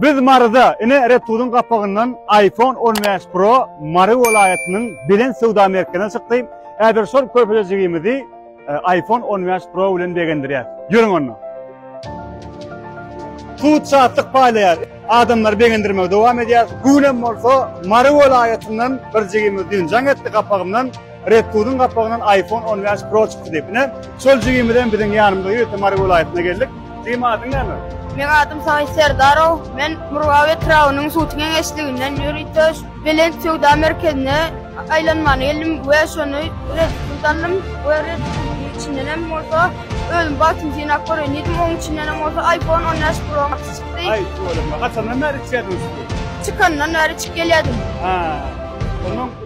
Biz Maryda, ine Red Tooth'un gapagyndan iPhone on bäş Pro Mary welaýatynyň belent söwda merkezine çykdy. Häzir şol körpejejigimizi e, iPhone on bäş Pro bilen begendirýär. Ýörüň onda. Tut şatlyk paýlaýar. Adamlary begendirmegi dowam edýär. Bu bolsa Mary welaýatyndan bir jigimiz düýn jaň etdi gapagymdan. Redkuzyň gapagyndan iPhone on bäş Pro çykdy diýip, ine, şol jigimizem biziň ýanymyza ýörite Mary welaýatyna geldik. Jigim, adyň näme? Meň adym Saýit Serdarow. Men Murgap etrabynyň Suwty geňeşliginden ýörite Belent söwda merkezine aýlanmana geldim we şony Redkuzy aldym we Redkuzyň içindenem bolsa özüm bagtymy synap göreýin diýdim, onuň içindenem bolsa iPhone on bäş Pro Max çykdy. Aý, şuwwalakma. Haçandan bäri içýärsiňiz siz? Çykandan bäri içip gelýärdim. Haa. Onuň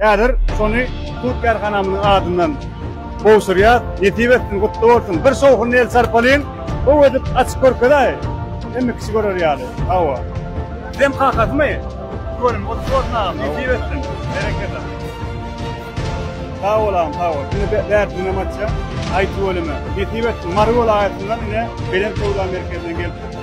Häzir şony hut kärhanamyzyň adyndan gowşurýas. Nesip etsin, gutly bolsun. Bir şowhunly el çarpalyň. Gowy edip açyp görkezäý. Hemme kişi görer ýaly. Hawa. Bizem kakasymy? Göwnim gutly bolsun agam. Nesip etsin. Berekella. Sag bol agam, sag bol. Indi be, bärsinden açýan. Aý tüweleme. Nesip etsin. Mary welaýatyndan ine Belent söwda merkezinden gelipdir.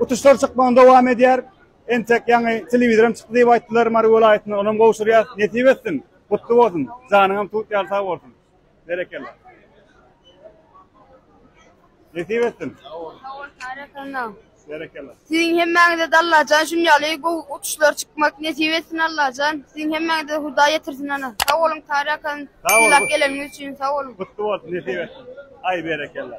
Utuşlar çykmagyny dowam edýär. Entek ýaňy telewizoram çykdy diýip aýtdylar Mary welaýatynda. Onam gowşurýar. Nesip etsin. Gutly bolsun. Janyňam tut ýaly sag bolsun. Berekella. Nesip etsin. Berekella. Siziň hemmäňize-de Allajan şuny ýaly gowy utuşlar çykmak nesip etsin Allajan. Siziň hemmäňize Hudaý ýetirsin ana. Sag boluň Tary akam. Sag boluň. Sylag geleniňiz üçin sag boluň. Gutly bolsun. Nesip etsin. Aý berekella.